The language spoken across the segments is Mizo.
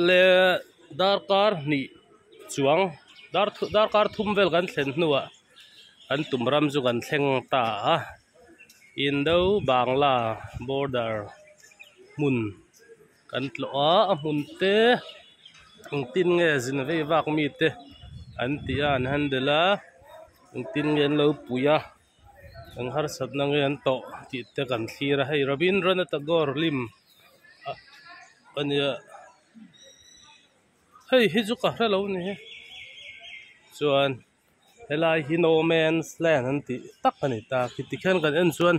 le darkar hnih chuang dar darkar thum vel kan thlen hnuah kan tum ram chu kan thleng ta a indo bangla border hmun kan tlawh a a hmun te an tin nge zin veivak mite an tih a an handle a engtin nge an lo pui a. Kan harsatna nge an tawh tih te kan thlir a, hei Rabindranath Tagore lim a ni a, hei hi chu ka hre lo a ni hi, chuan helai hi no man's land an tih tak a ni ta, khi tikhian kan en chuan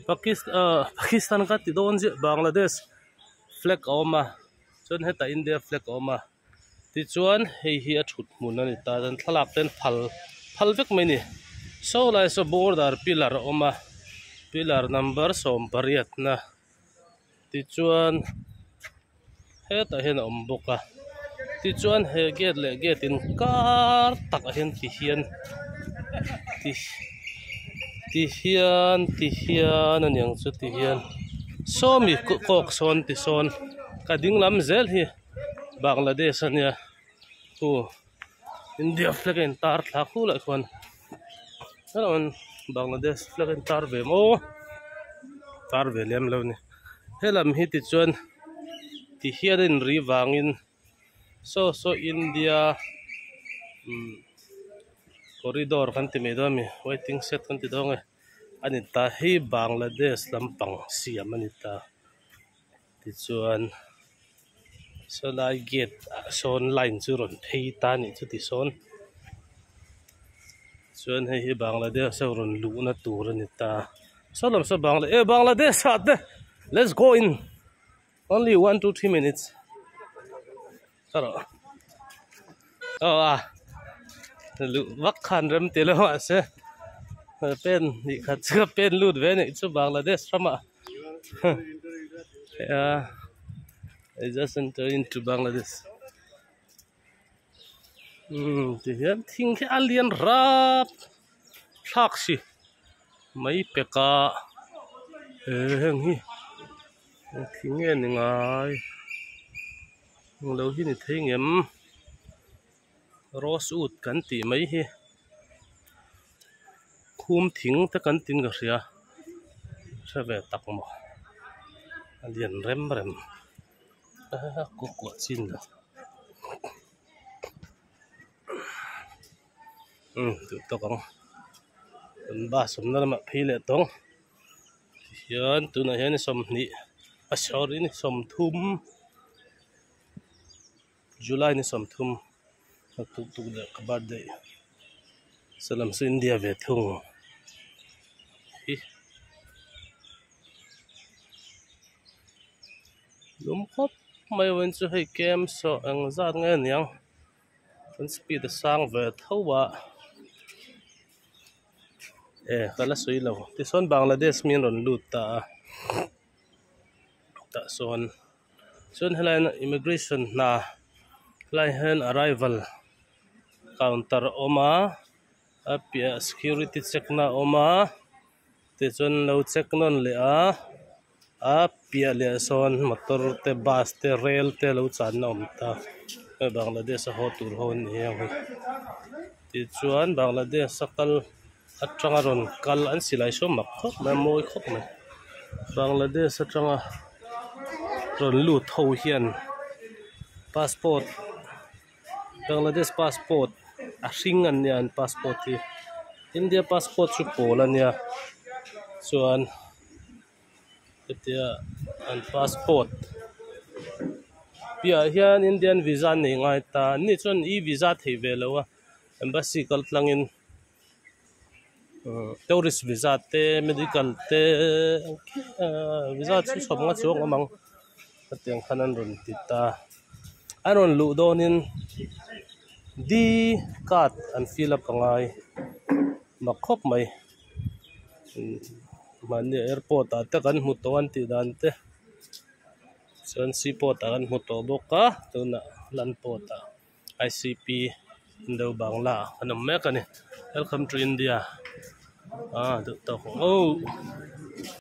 pakistan ah pakistan kha ti dawn ziah Bangladesh flag a awm a, chuan hetah India flag a awm a. Tichuan hei hi a thut hmun a ni ta chuan thlalak te an phal phal vek mai a ni. Saw lai saw border pillar a awm a pillar number sawm pariatna tichuan hetah hian a awm bawk a tichuan he gate leh gate in kar takah hian ti hian ti ti hian ti hian a ni ang chu ti hian sawmi kawk sawn tisawn ka dinglam zel hi. Bangladesh a nia hu India flag a intar thla khu lah khuan hello Bangladesh flag a intar ve maw tar ve lem lo ni he lam hi tichuan ti hial a inri vangin so so India umm corridor kan ti mai dawn a mi waiting shed kan ti dawn a mi a ni ta hi Bangladesh lampang siam a ni ta. Tichuan saw lai gate ah sawn line chu rawn phei ta nih chu tisawn chuan hei hi Bangladesh ho rawn luhna tur a ni ta saw lam saw bangla eh Bangladesh ah te let's go in only one two three minutes. Ka rawh. Ka rawh a. Luh vak khan rem tih loh mahse pen hnih khat chu ka pen lut ve neih chu Bangladesh rama I just enter into Bangladesh umm tihian thing hi a lian rap thlak si mai pek a he heng hi thing nge ni ngai. Englo hi ni thei ngem rose wood kan tih mai hi khum thing te kan tin ka hria hre ve tak maw a lian rem rem aa khawkuah chin loh umm duhtak ang kan bus awmna lamah phei leh tawng. hian tunah hian i sawmhnih a sorry a ni sawmthum july ni sawmthum a tut tuk leh ka birthday se lam sawi india ve thung hi lum khawp mai ah win chu hei kem saw engzat nge niang. Kan speed a sang ve tho a, eh ka la sawi lo, tichuan Bangladesh miin rawn lut ta a, tah sawn chuan helai in immigration hna helai hian arrival counter a awm a, a piahah security check na a awm a, tichuan an lo check nawn leh a. a piah leh ah sawn motor te bus te rail te lo chan na a awm ta hei Bangladesh a haw tur ho a ni ang hi tichuan Bangladesh a kal atanga rawn kal an silai sawn mak khawp mai a mawi khawp mai Bangladesh atanga rawn lut ho hian passport -- Bangladesh passport a hring an nia an passport hi India passport chu pawl a nia chuan hetia an passport piahah hian Indian visa an nei ngai ta an ni chuan e visa theih ve lo a embassy kal tlangin-- Tourist visa te medical te visa chi hrang hrang chu awm ang hetiang khan an rawn ti ta a rawn luh dawn in D card an fill a pangai mak khawp mai mahni airport ah te kan hmu tawh an tih dan te chuan sea port ah kan hmu tawh bawk a tuna land port ah. ICP Indo Bangla an awm mek a ni Welcome to India aa duh tawk ang o.